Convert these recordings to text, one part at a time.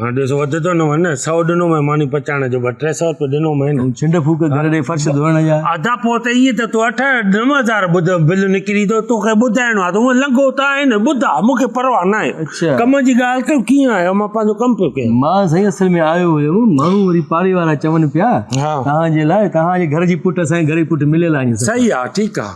ها ڏس وڌ ٿو نه ون سو ڏنو مين ماني پچائڻ جو ٻه ٽي سو روپيا ڏنو مين ۽ ڇنڊ ڦوڪ گهر ڏي فرش ڌوئڻ جا ادا پوء ته ائين ته تو اٺ نو هزار ٻڌ بل نڪري ٿو توکي ٻڌائڻو آهي ته هونئن لنگهو ته آهين ٻڌاء مون کي پرواهه نه آهي اڇا. ڪم جي ڳالهه ڪيو ڪيئن آيو مان پنهنجو ڪم پيو ڪيان مان سائين اصل ۾ آيو هيم ماڻهو وري پاڙي وارا چون پيا ها. توهان جي لاء توهان جي گهر جي پٽ اسان جي گهر جي پٽ مليل آهن سڀ صحيح آ ٺيڪ آ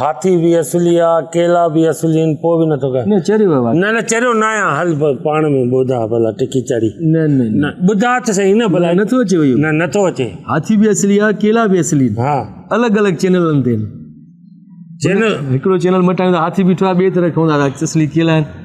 هاٿي به اصلي آ ڪيلا به اصلي آهن پوء به نٿو ڪر نه چريو ويو آهي نه نه چريو نه آهيان هل پاڻ ۾ ٻڌا ڀلا ٽڪي چڙي نه نه نه ٻڌا ته صحيح نه ڀلا نٿو اچي ويو نه نٿو اچي هاٿي به اصلي آ ڪيلا به اصلي آهن ها الڳ الڳ چينلن تي چينل هڪڙو چينل مٽائيندا هاٿي بيٺو آ ٻي طرف کوندا اصلي ڪيلا آهن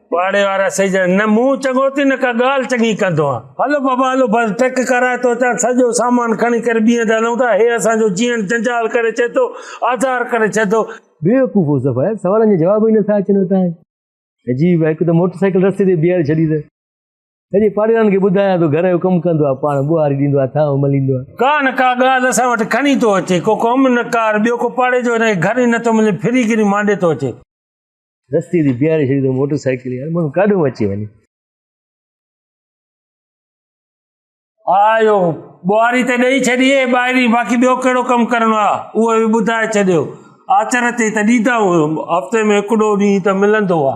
پاڙي وارا سهي جا نه مون چڱو ٿي نه ڪا ڳالهه چڱي ڪندو آهيان هلو بابا هلو بس ٽڪ ڪرائي ٿو اچان سڄو سامان کڻي ڪري ٻيهن تي هلون ٿا هي اسان جو جيئڻ جنجال ڪري ڇڏي ٿو آزار ڪري ڇڏي ٿو بيوقوف هو صفايا سوالن جا جواب ئي نٿا اچن هتان عجيب هڪ ته موٽر سائيڪل رستي تي بيهاري ڇڏي ته سڄي پاڙيوارن کي ٻڌايان ٿو گهر جو ڪم ڪندو آهي پاڻ ٻوهاري ڏيندو آهي ٿانو مليندو آهي ڪا نه ڪا ڳالهه اسان وٽ کڻي ٿو اچي ڪو ڪم نه ڪار ٻيو ڪو پاڙي جو هن کي گهر ئي نٿو ملي ڦري گهري مانڊي ٿو اچي رستي تي بيهاري ڇڏي اٿئون موٽر سائيڪل يار ماڻهو ڪاڏهون اچي وڃي آيو ٻوهاري ته ڏئي ڇڏي ٻاهري باقي ٻيو ڪهڙو ڪم ڪرڻو آ اهو به ٻڌائي ڇڏيو آچر تي ته ڏيندا هفته ۾ هڪڙو ڏينهن ته ملندو آ